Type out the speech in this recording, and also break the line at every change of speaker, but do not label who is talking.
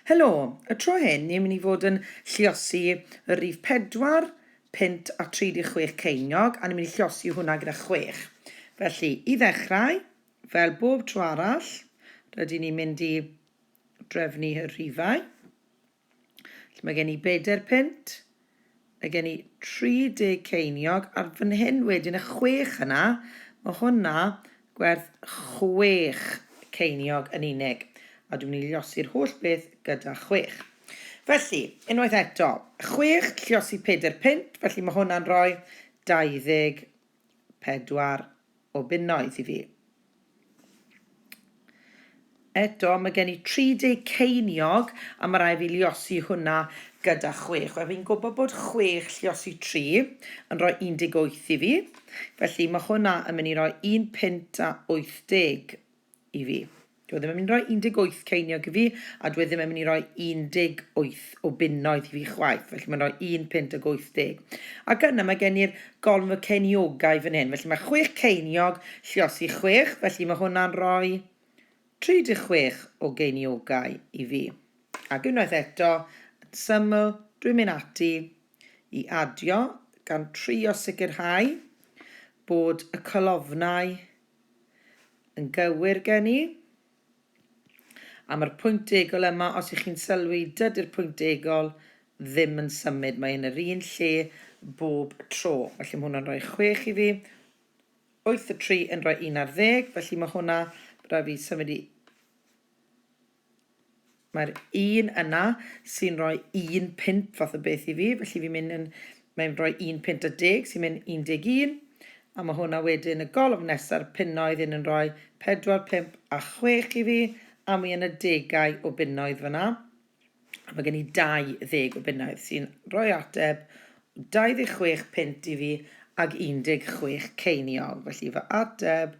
Helo! Y tro hyn ni'n mynd i fod yn lluosi y rif 4 punt a 36 ceiniog a ni'n mynd i lluosi hwnna gyda 6. Felly, i ddechrau, fel bob tro arall, rydyn ni'n mynd i drefnu y rhifau. Felly mae gen i bedair punt, mae gen i 30 ceiniog, ar fan hyn wedyn y chwech yna, mae hwnna gwerth chwech ceiniog yn unig, a dwi'n mynd i llosi'r holl beth gyda chwech. Felly, unwaith eto, chwech llosi pedair punt, felly mae hwnna'n rhoi 24 o bunnoedd i fi. Eto, mae gen i 30 ceiniog a mae rhaid fi liosi hwnna gyda chwech. Wel, fi'n gwybod bod chwech lliosi tri yn rhoi 18 i fi. Felly, mae hwnna yn mynd i roi un punt a 80. i fi. Dyw e ddim yn mynd i roi 18 ceiniog i fi, a dyw e ddim yn mynd i roi 18 o bunnoedd i fi chwaith, felly mae'n rhoi un punt ag 80. Ac yna mae gen i'r golwg y ceiniogau fan hyn, felly mae chwech ceiniog, lliosi chwech, felly mae hwnna'n rhoi 36 o geiniogau i fi. Ac unwaith eto, yn syml, dwi'n mynd ati i adio gan trio sicrhau bod y colofnau Yn gywir gen i. Am yr pwynt degol yma, os y'ch chi'n sylwi, dydy'r pwynt degol ddim yn symud, mae yn yr un lle bob tro. Felly mae hwnna'n rhoi chwech i fi, wyth y tri yn rhoi un ar ddeg, felly mae hwnna, rhaid fi symud i Mae'r un yna sy'n rhoi un punt fath o beth i fi, felly fi'n mynd yn... mae'n rhoi un punt a deg sy'n mynd 11, a mae hwnna wedyn y golofn nesa'r punnoedd hyn yn rhoi 4, 5 a 6 i fi, a mi yn y degau o bunnoedd fyna, a mae gen i 20 o bunnoedd sy'n rhoi ateb 26 punt i fi ag 16 ceiniog, felly fy ateb